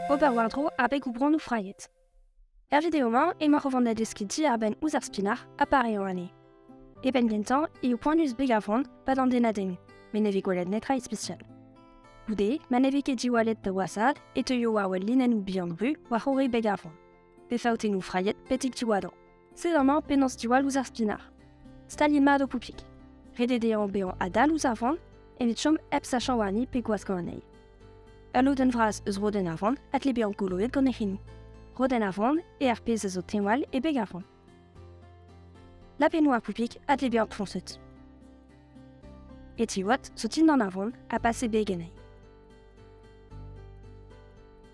Ober war-dro abeg o bronnoù frailhet. Er video-mañ emaoc'h o vont da deskiñ diarbenn ouzh ar spinac'h ha pareoù anezhe. E penn gentañ eo poanius beg ar vran pa d'an denadennoù, met ne vez gwelet netra ispisial. Goude, ma ne vez ket diwallet da wasad e teuio war-wel linennoù bihan ru war-c'horre beg ar vran. Pe faotennoù frailhet betek diwadañ. Sed amañ penaos diwall ouzh ar spinach. Staliet mat ho poupig. Ret eo dezhañ bezañ adal ouzh ar vran evit chom hep sachañ warni pe gwaskañ anezhi. Ul lodenn vras eus rodenn ar vran a tle bezañ goloet gant e c'hinoù. Rodenn ar vran eo ar pezh a zo teñwal e beg ar vran. Lapennoù ar poupig a tle bezañ foñset. E tiwad zo dindan ar vran ha pas e beg anezhi.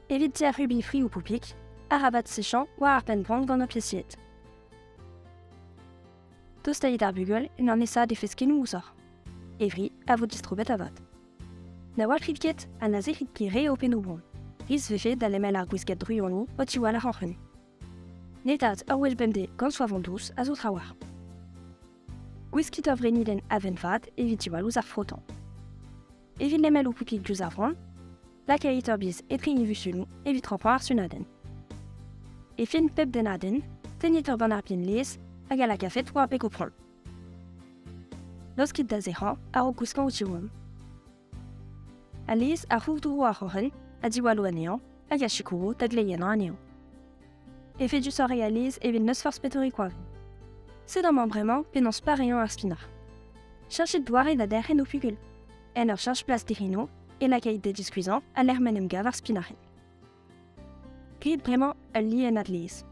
Evit ser rubi friou poupik, arabat sechañ war ar penn-gwan gant ofisiet. Tostait ar bugel en an esa defeskennoù ouzoc'h. Evri a vo distrobet avat. Na walc'hit ket ha na zec'hit ket re ho pennoù bron. Ris vefe da lemel ar gwiskad druoni o tiwall arc'hant. Netat ur wel bemdez gant soavon dous a zo trawalc'h. Gwiskit ur vreniden aven vat evit diwall ouzh ar frotan. Evit lemel o poupig diouzh ar vran, lakait ur biz etre invuzunoù evit rampañ ar sunadenn. E fin pep dennadenn, tennit ur bannarpien laezh hag a lakafet war beg o pront. Laoskit da zec'hañ a-raok gouskañ o tiwall. A laezh a c'hourdro ar c'hroc'hen ha diwallo anezhañ hag a sikouro da gleiennañ anezhañ. Efedusoc'h e alez evit n'eus forzh petore koañv. Sed amañ bremañ penaos pareañ ar spinañ. Cheñchit doare da derc'hen ho fugul. En ur cheñch plas dic'hinoù e lakait da diskuizhañ a-lec'h ma 'n em gav ar spinac'henn. Grit bremañ ul liennad laezh.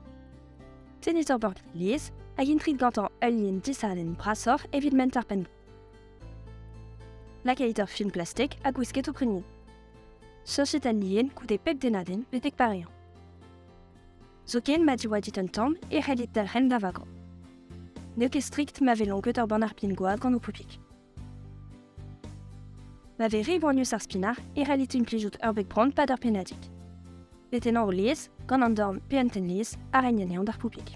Tennit ur borgad laezh hag intrit gantañ ul lien disadenn brasoc'h evit ment ar penn. Lakait ur film plastik ha gwisket ho prignoù. Cheñchet an ien goude pep dennadenn betek pareañ. Zoken ma divoa dit un tamm e c'hellit dalc'hen da vagañ. N'eo ket strikt ma vez lonket ur bann ar pin-gwad gant ho poupig. Ma vez re boanius ar spinach e c'hellit implijout ur beg bront pad ur pennadig. Betennañ o lez, gant an dorn pe un tenn-lez, a reiñ anezhañ d'ar poupig.